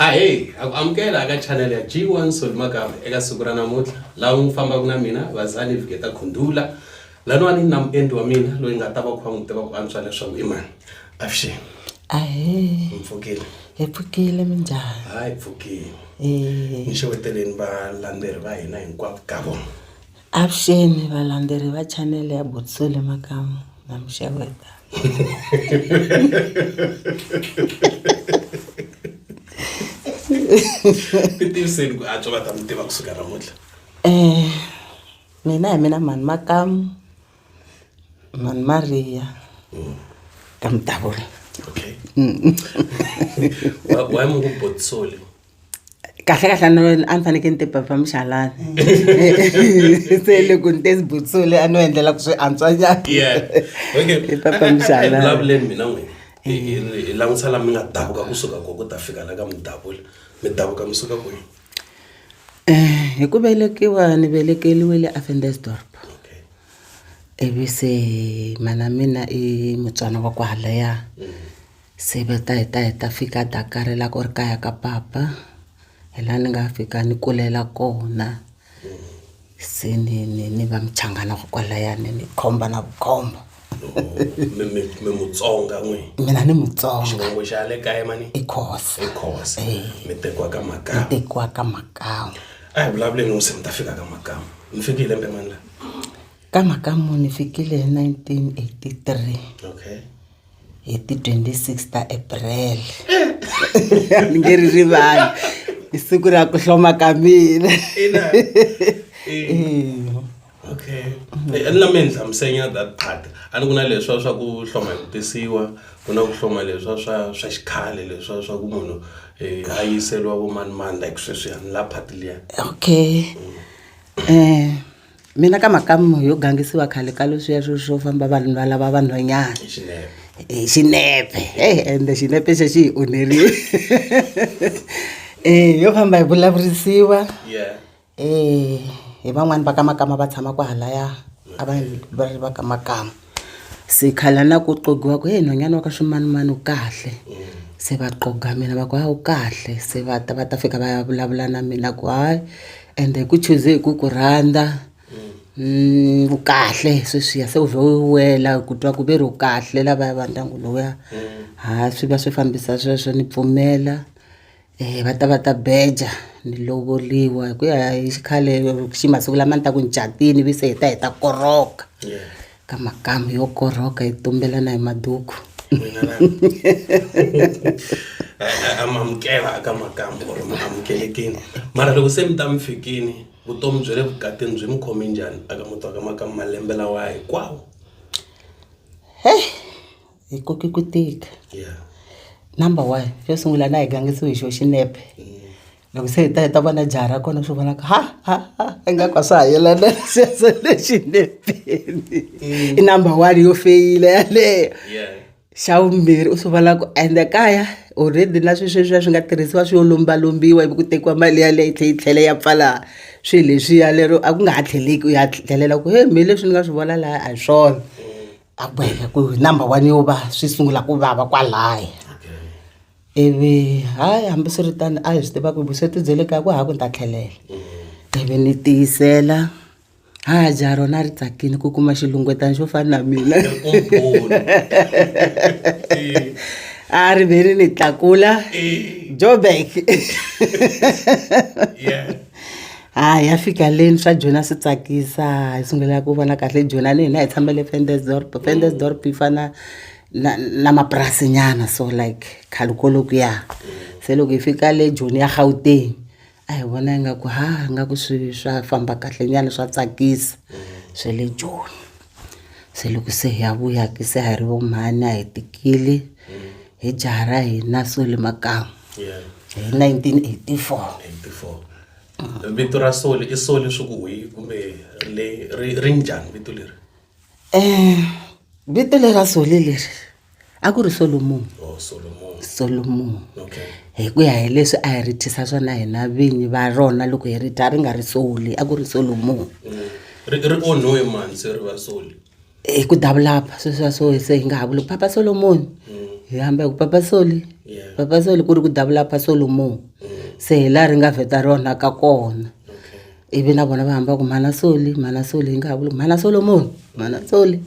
ahee a ku amukela aka chanel ya g one solimagama eka siku ra namuntlha laha n'wi fambaka na mina vazali vigeta khundula laniwani na muendli wa mina loyi nga ta va kha n'wi tiva ku antswa leswaku i mani avuxeni ahee hi pfukile hi pfukile minjhani hayi pfukile ni xeweteleni valandzeri va hina hinkwavo ka vona Avuxeni valandzeri va channel ya Botsole Makamu na Mixaveta ti tiviseni ku antswa va ta mi tiva kusuka namuntlha eh mina hi mina mhani Makamu mhani Maria ka Mutavula okay why mu ku Botsole kahlekahle no a ni fanekele ni ti performisa halani se loko ni te ni butsule a no endlela ku swi antswa njhanivulavuleni mina n'wini hi langutisa la mi nga davuka kusuka ko ku ta fika la ka mi davula mi davuka mi suka kwihi um hi ku velekiwa ni velekeliwile afendesdorp ivi se mana mina i mutswana wa ku halaya mm. se va ta hi ta hi ta fika Dakar la ku ri kaya ka papa hi la ni nga fika ni kulela kona se ni ni ni va muchangana wa kwalaya ni ni khomba na vukhomba mi mi mi mutsonga n'wi mina ni mutsonga xivongo xa le kaya mani i khosa i khosa mi tekiwa ka makama mi tekiwa ka makama a hi vulavuleni n'wi se mi ta fika ka makama mi fike hi lembe mani la ka makama ni fikile hi 1983 okay hi ti 26 ta april ni nge ri rivali i siku ra ku hloma ka mina okay eh, ni lame ni hlamusenya that part a ni ku na leswa swa ku hloma hi ku tisiwa ku na ku hloma leswa swa swa xikhale leswa swa ku munhu um a yiseriwa vomanimani like sweswiyani la part liya okay um Mina ka mhakamu yo gangisiwa khale ka leswiya swo swo famba vanhu va lava vanhwanyana hi xinepe heyi ende xinepe xo xi hi onherile um yo famba hi vulavurisiwa um hi van'wani va ka makama va tshama kwahalaya a va va ri va ka makama. se khala na ku qogiwa ku heyi nhwanyana wa ka ximanimani u kahle se va qoga mina va ku ha u kahle se va ta va ta fika va ya vulavula na mina ku hayi ende hi ku chuze hi ku ku rhandza mm, u kahle sweswiya se u vhe u wela ku twa ku ve ri u kahle lavaya va ndyangu lowuya ha swi va swi fambisa sweswo ni pfumela va ta va ta beja ni lovoliwa hi ku ya hi xikhale xi masiku lama ni ta ku ni catile ivi se hi ta hi ta korhoka ka makamu yo korhoka hi tumbelana hi maduku amukela ka makamu or mi amukelekini mara loko se mi ta mi fikini vutomi bya le vukatini byi mi khome njhani aka muti wa ka makamu malembe lawa hinkwawo heyi hi koke ku tika number one xo sungula na hi gangisiwe hi xo xinepe loko se hi ta hi ta vona jaha ra kona swi vona ku ha ha ha ingaku a swa ha yelana se se le xinepeni i number one yo feyila yaleyo xa vumbirhi u swi vona ku ende kaya already na swi sweswiya swi nga tirhisiwa swi yo lombalombiwa ivi ku tekiwa mali yaleyo yi tlhe yi tlhela ya pfala swi leswiya lero a ku nga ha tlheleki u ya tlhelela ku he me leswi ni nga swi vona laya a hi swona a ku heta ku number one yo va swi sungula ku vava kwalaya ivi hayi hambiswiritano a hi swi tiva ku vusweti bye le kaya ku hava ku ni ta tlhelela ivi ni tiyisela ha dya rona ri tsakile ku kuma xilungwetana xo fana na mina a ri ve ri ni tlakula joburg ha ya fika leni swa jona swi tsakisa hi sungula ku vona kahle jona ni hina hi tshamele fendesdorp fendesdorp yi fana na na mapurasi nyana so like khale ko loko ya se loko hi fika le joni ya gauteng a hi vona ingaku ha ingaku swi swa famba kahle nyana swa tsakisa swe le joni. se loko se hi ya vuya ke se ha ri vo mhani a hi tikile hi jaha ra hina soli makamu hi 1984 vito ra soli i soli swi ku hi kumbe ri ri njhani vito leri um vito lera soli leri a ku ri solomoni oh solomon solomoni okay hi ku ya hi leswi a hi ri thisa swona hina vinyi va rona loko hi ri dya ri nga ri soli a ku ri solomoni Mm. ri ri onhiwe mani se ri va soli hi ku davulapa sweswiya swo se hi nga ha vuli ku papa solomoni hi hamba hi ku papa soli Yeah. papa soli ku ri ku davulapa solomoni se hi laha ri nga vheta rona ka kona okay ivi na vona va hamba ku mhana soli mhana soli hi nga ha vuli ku mhana solomoni mhana soli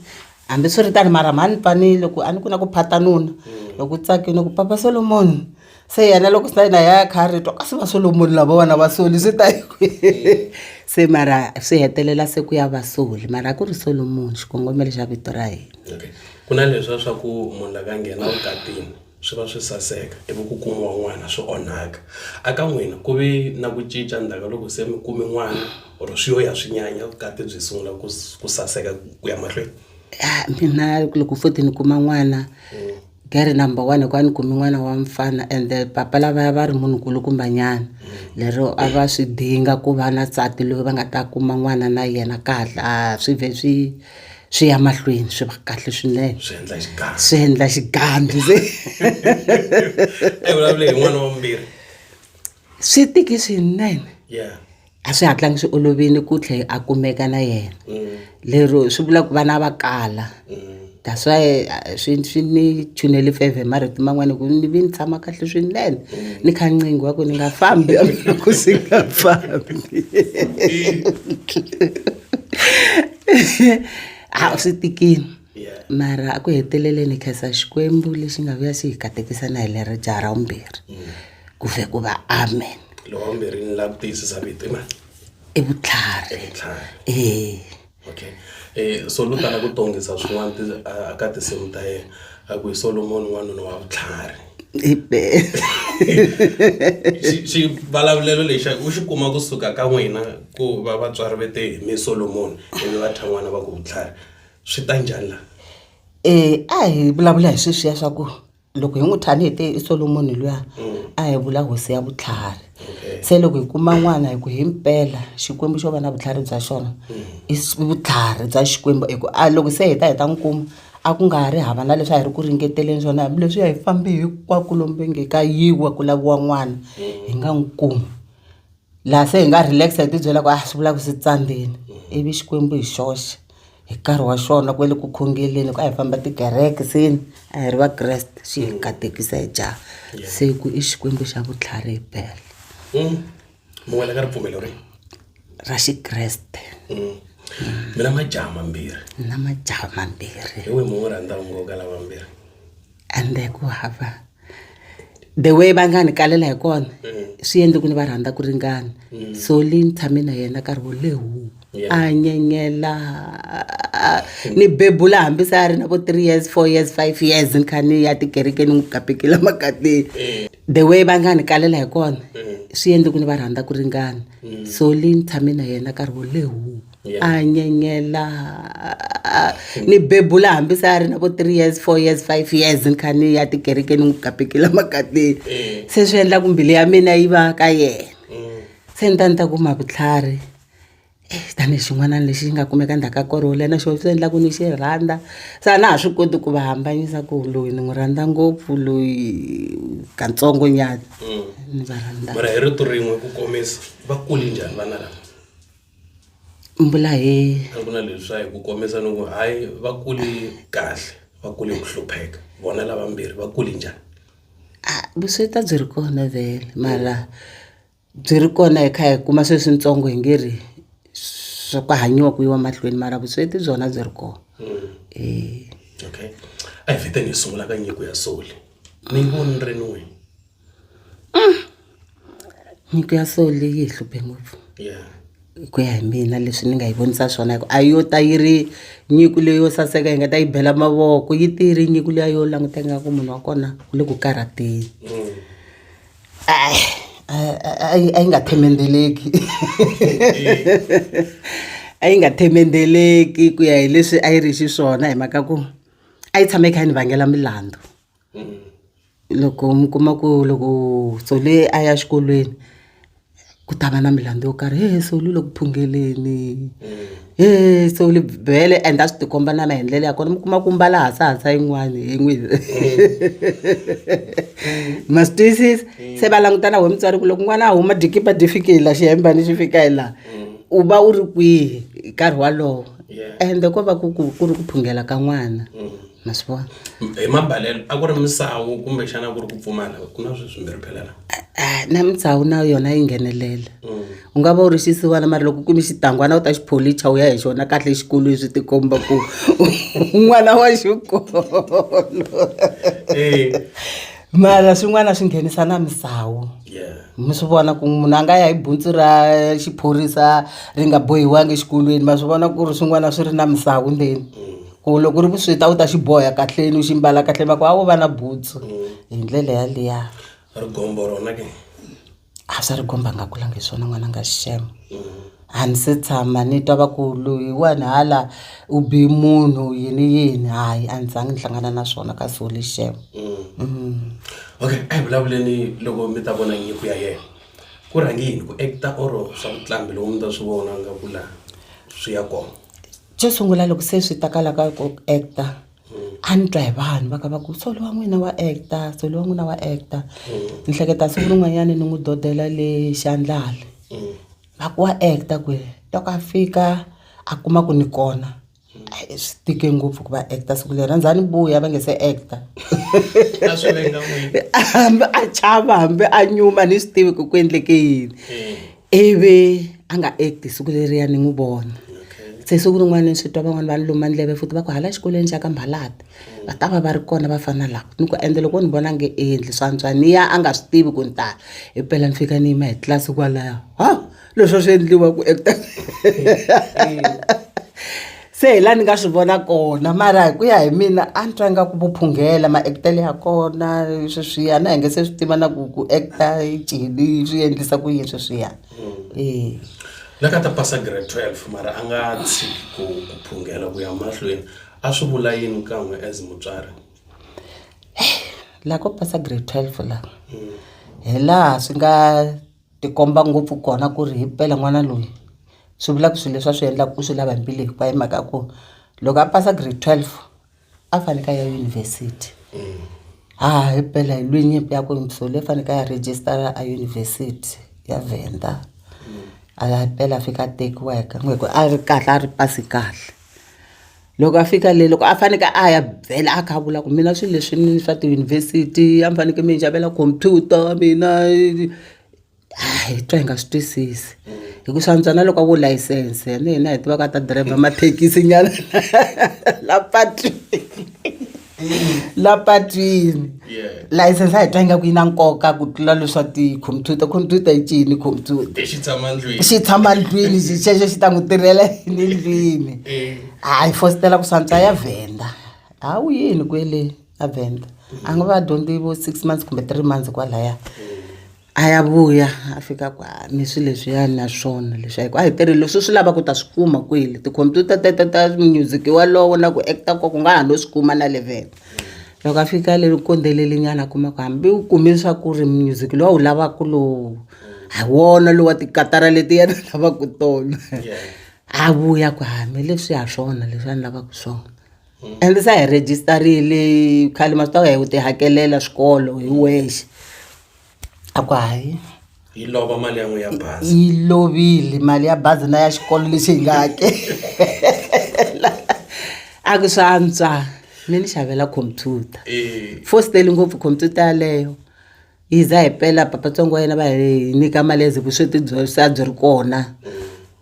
Hambiswiritano, mara mhani pani loko a ni ku na ku phata nuna loko u tsakile ku papa solomoni se yena loko sina yena ya kha a ri twa kasi va solomoni lava vana va soli swi ta hi kwihi se mara swi hetelela se ku ya va soli mara a ku ri solomoni xikongomelo xa vito ra hina Okay. Ku na leswiya swa ku munhu la ka nghena vukatini. swi va swi saseka ivi ku kumiwa n'wana swi onhaka. A ka n'wina ku ve na ku cinca ndzhaku ka loko se mi kume n'wana or swi yo ya swi nyanya vukati byi sungula ku ku saseka ku ya mahlweni? Ah, mina loko futhi ni kuma n'wana gere number one hikuva ni kume n'wana wa mfana ende papa lavaya va ri munhu nkulukumbanyana lero a va swi dinga ku va na nsati loyi va nga ta kuma n'wana na yena ka hatla a swi vhe swi swi ya mahlweni swi va kahle swinene swi endla xigandzi swi endla xigandzi eyi vulavule hi n'wana wa vumbirhi swi tiki swinene yeah a swi hatlangi swi olovile ku tlhe a kumeka na yena mm. lero swi vula ku vana va kala mm. that's why eh, swi swi ni chunele feve marito man'wana ku ni vi ni tshama kahle swinene mm. ni kha ncingo wa ku ni nga fambi ku si nga fambi a swi tikile mara a ku heteleleni khensa xikwembu lexi nga vuya xi hi katekisa na hi leri jaha ra vumbirhi mm. ku vhe ku va amen lowa vumbirhi ni lava ku tiyisisa vito na i vutlhari ee okay eh so lu tala ku tongisa swin'wana aka tinsimu ta yena a ku hi solomoni n'wanuna wa vutlhari hi bele xivulavulelo lexa u xi kuma kusuka ka n'wina ku va vatswari ve te mi solomoni ivi va thya n'wana va ku vutlhari swi ta njhani laha um a hi vulavula hi sweswiya swa ku loko hi n'wi thani hi te i solomoni luya a hi vula hosi ya vutlhari se loko hi kuma n'wana hi ku hi mpela xikwembu xo va na vutlhari bya xona i vutlhari bya xikwembu hi ku a loko se hi ta hi ta n'wi kuma A ku nga ha ri hava na leswi a hi ri ku ringeteleni swona hambileswi a hi fambe hinkwako lomu va nge ka yiwa ku laviwa n'wana hi nga n'wi kumi laha se hi nga relax hi tibyela ku a swi vula ku swi tsandzeni ivi xikwembu hi xoxe hi nkarhi wa xona kwale ku khongeleni hi ku a hi famba tikereke se ni a hi ri vakreste xi hi katekisa hi jaha se ku i xikwembu xa vutlhari himpela. mi wela ka ripfumelo ri ra xikreste mm. mi na majaha mambirhi na majaha mambirhi hi we mun'we rhandza ungo ka lava mbirhi ende ku hava the way va nga ni kalela hi kona mm. swi endle ku ni va rhandza ku ringana mm. so leyi ni tshame na yena nkarhi wo lehu a nyenyela ni bebula hambi se a ri na vo three years four years five years ni kha ni ya tikereke ni n'wi gapekela makateni eh. the way va nga ni kalela hi kona eh. swi endle ku ni va rhandza ku ringana mm. so li ni tshame na yena nkarhi wo lehu a nyenyela ni bebula hambi se a ri na vo three years four years five years ni kha ni ya tikereke ni n'wi gapekela makateni eh. se swi endla ku mbilu ya mina yi va ka yena mm. se ni ta ni ta kuma vutlhari tanihi xin'wana lexi nga kumeka ndzhaku ka nkarhi wo leha na xoho swi endla ku ni xi rhandza se a na ha swi koti ku va hambanyisa ku loyi ni n'wi rhandza ngopfu loyi katsongo nyana ni va rhandza mara hi rito rin'we ku komisa va kule njhani vana lava mbula he a ku na leswa hi ku komisa ni ku hayi va kule kahle va kule hi ku hlupheka vona lavambirhi va kule njhani a vusweti a byi ri kona vhele mara. Byi ri kona hi kha hi kuma se switsongo hi nge ri swa ku hanyiwa ku yiwa mahlweni mara vusweti byona byi ri kona okay a hi vhete hi sungula ka nyiko ya soul ni yi voni ni ri ni n'wini nyiko ya soul yi hi hluphe ngopfu hi ku ya hi mina leswi ni nga yi vonisa swona hi ku a yo ta yi ri nyiko leyo saseka hi nga ta yi bela mavoko yi te yi ri nyiko liya yo languta ingaku munhu wa kona u le ku karhateni. a yi a yi nga themendeleki a yi nga themendeleki ku ya hi leswi a yi ri xiswona hi mhaka ku a yi tshama yi kha yi ni vangela milandzu loko mi kuma ku loko Tsole a ya xikolweni. ku ta va na milandzu yo karhi hehe se u lwile ku phungeleni hehe se u le bele and a swi tikomba na na hi ndlela ya kona mi kuma ku mbala hasahasa yin'wani hi n'wi ma swi twisisa se va langutana we mutswari ku loko n'wana a huma dikipa di fike hi la xihembani xi fika hi laha u va u ri kwihi hi nkarhi walowo ende ko va ku ku ku ri ku phungela ka n'wana. ma swi vona hi mabalelo a ku ri misawu kumbexana ku ri ku pfumala ku na sweswi mi ri phelela Ah, na mitsawu na yona yi nghenelela u nga va u ri xisiwana mara loko u kume xitangwana u ta xi pholicha u ya hi xona kahle exikolweni swi tikomba ku n'wana wa xikolo Eh, mara swin'wana swi nghenisa na misawu yeah. mi swi vona ku munhu a nga ya hi buntsu ra xiphorisa ri nga bohiwangi exikolweni ma swi vona ku ri swin'wana swi ri na misawu ndzeni Mm. ku loko u ri vusweti a wu ta xi boha kahleni u xi mbala kahle va ku a wo va na butsu hi ndlela yaliya rigombo rona ke a swa rigombo a nga kulanga hi swona n'wana nga xixema a ni se tshama ni twa va ku loyi wani hala u bi munhu yini yini hayi a ni zangi ni hlangana na swona ka so le xixema okay a hi vulavuleni loko mi ta vona nyiko ya yena ku rhange yini ku act-a or swa ku tlamba loko mi ta swi vona nga ku la swi ya kona. xo sungula loko se swi ta ka la ka ku act-a a ni twa hi vanhu va ka va ku so lowa n'wina wa act-a so lowa n'wina wa act-a ni hleketa siku rin'wanyani ni n'wi dodela le xa ndlala va ku wa act-a kwihi loko a fika a kuma ku ni kona hayi swi tike ngopfu ku va act-a siku leri a ni za ni vuya va nge se act-a A swi venga n'wina. hambi a chava hambi a nyuma a ni swi tivi ku ku endleke yini ivi a nga act siku leriya ni n'wi vona se siku rin'wana ni swi twa van'wani va ni luma ndleve futhi va ku hala xikolweni xa ka Mhalati va ta va va ri kona vafana lava ni ku ende loko ni vona nge i endli swa antswa ni ya a nga swi tivi ku ni ta himpela ni fika ni yima hi tlilasi kwalaya ha leswi a swi endliwa ku . se hi la ni nga swi vona kona mara hi ku ya hi mina a ni twa ingaku vo phunghela ma-act-ele ya kona sweswiya na hi nge se swi tiva na ku ku act-a cini swi endlisa ku yini sweswiya e la ka ta pasa grade 12 mara a nga tshiki ku ku phunghela ku ya mahlweni a swi vula yini kan'we as mutswari la ko pasa grade 12 la hi laha swi nga tikomba ngopfu kona ku ri himpela n'wana loyi swi vula ku swilo leswi a swi endlaku u swi lava hi mbilu hinkwayo hi mhaka ya ku loko a pasa grade twelve a faneke a ya yunivhesiti ha himpela hi lwe nyimpi ya ku so le faneke a ya rejistara a yunivhesiti ya Venda a ya himpela a fika a tekiwa hi ku a ri kahle a ri pasi kahle. loko a fika le loko a fanekele a ya byela a kha a vula ku mina swilo leswi ni swa tiyunivhesiti a ni fanekele mi ni xavela khompyuta mina hayi hi twa hi nga swi twisisi hi ku swantswa na loko a vo layisense yena hi tivaka a ta driver mathekisi nyana la patwini. la patwini license a hi twa ingaku yi na nkoka ku tlula leswa ti-computer computer yi cini computer xi tshama ndlwini xi xexo xi ta n'wi tirhela yini ndlwini hayi fositela ku swantswa ya vhenda ha wu yini kwele a vhenda a nga va dyondzi vo six months kumbe three months kwalaya a ya vuya a fika ku a ni swi leswiyani na swona leswi a hi ku a hi tirhi leswi u swi lavaka u ta swi kuma kwele tikhompyuta teto ta music walowo na ku act-a ko ku nga ha no swi kuma na le vhele loko a fika le u kondzelele nyana a kuma ku hambi u kume swa ku ri music lowu a wu lavaka lowu hi wona lowa tikatara leti yena a lavaka tona a vuya ku hame leswi ha swona leswi a ni lavaka swona ende se a hi register-ile khale ma swi tiva hi ku ti hakelela swikolo hi wexe. a ku hayi yi lova mali ya n'wi ya bazi yi lovile mali ya bazi na ya xikolo lexi hi nga hakela a ku swa antswa mi ni xavela computer Eh, fostele ngopfu computer yaleyo yi za hi pela papatsongo wa yena va hi nyika mali ya ze vusweti byo se a byi ri kona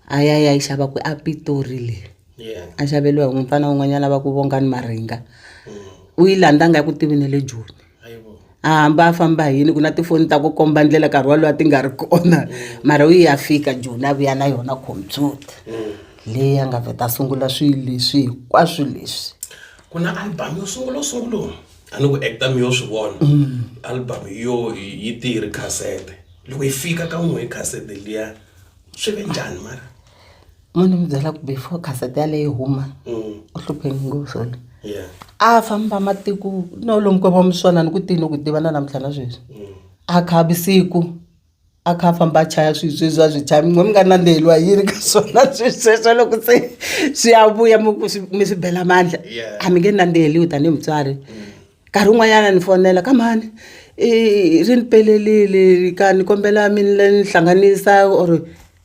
a ya ya yi xava ku a pitori leyi yeah. a xaveliwa hi mufana un'wanyana va ku vongani maringa u yi landza nga ku tivi ne le joni a hamba a famba hi yini ku na tifoni ta ku komba ndlela nkarhi walowo a ti nga ri kona mara u yi ya fika joni a vuya na yona computer leyi a nga vheta a sungula swilo leswi hinkwaswo leswi ku na album yo sungula u sungula a ni ku acta mi yo swi vona album yo yi te yi ri khasete loko yi fika ka n'we hi khasete liya swi ve njhani mara mo ni mi byela ku before cassette yaleyi yi huma u hlupheni ngopfu swona yeah a famba matiko no lomu ko va muswana ni ku tini ku tiva na namuntlha na sweswi a kha a visiku a kha a famba a chaya swilo sweswi a swi chaya mi nga nandziheliwa hi yini ka swona swilo sweswo loko se swi ya vuya mi ku swi mi swi bela mandla Yeah. a mi nge nandziheliwi tanihi mutswari Nkarhi wun'wanyana ni fonela ka mhani ri ni pelelile ka ni kombela mi ni hlanganisa or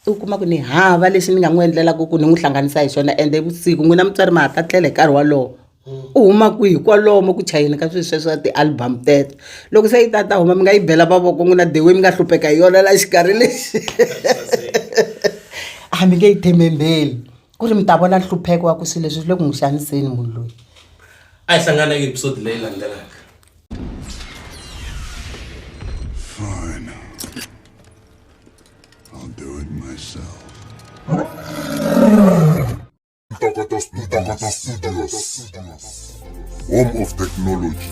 u kuma ku ni hava lexi ni nga n'wi endlelaka ku ni n'wi hlanganisa hi xona ende i vusiku n'wina mutswari ma ha ta tlela hi nkarhi wolowo u huma kwihi kwalomo ku chayeni ka swilo sweswo ti-album teto loko se yi ta ta huma mi nga yi bela mavoko n'wina the way mi nga hlupheka hi yona la xikarhi lexi a mi nge yi themendheli. ku ri mi ta vona nhlupheko wa ku swilo leswi swi le ku n'wi xaniseni munhu loyi a hi hlangana eka episode leyi landzelaka Fine. I'll do it myself. Ntokoto Ntokoto Studios. Home of Technology.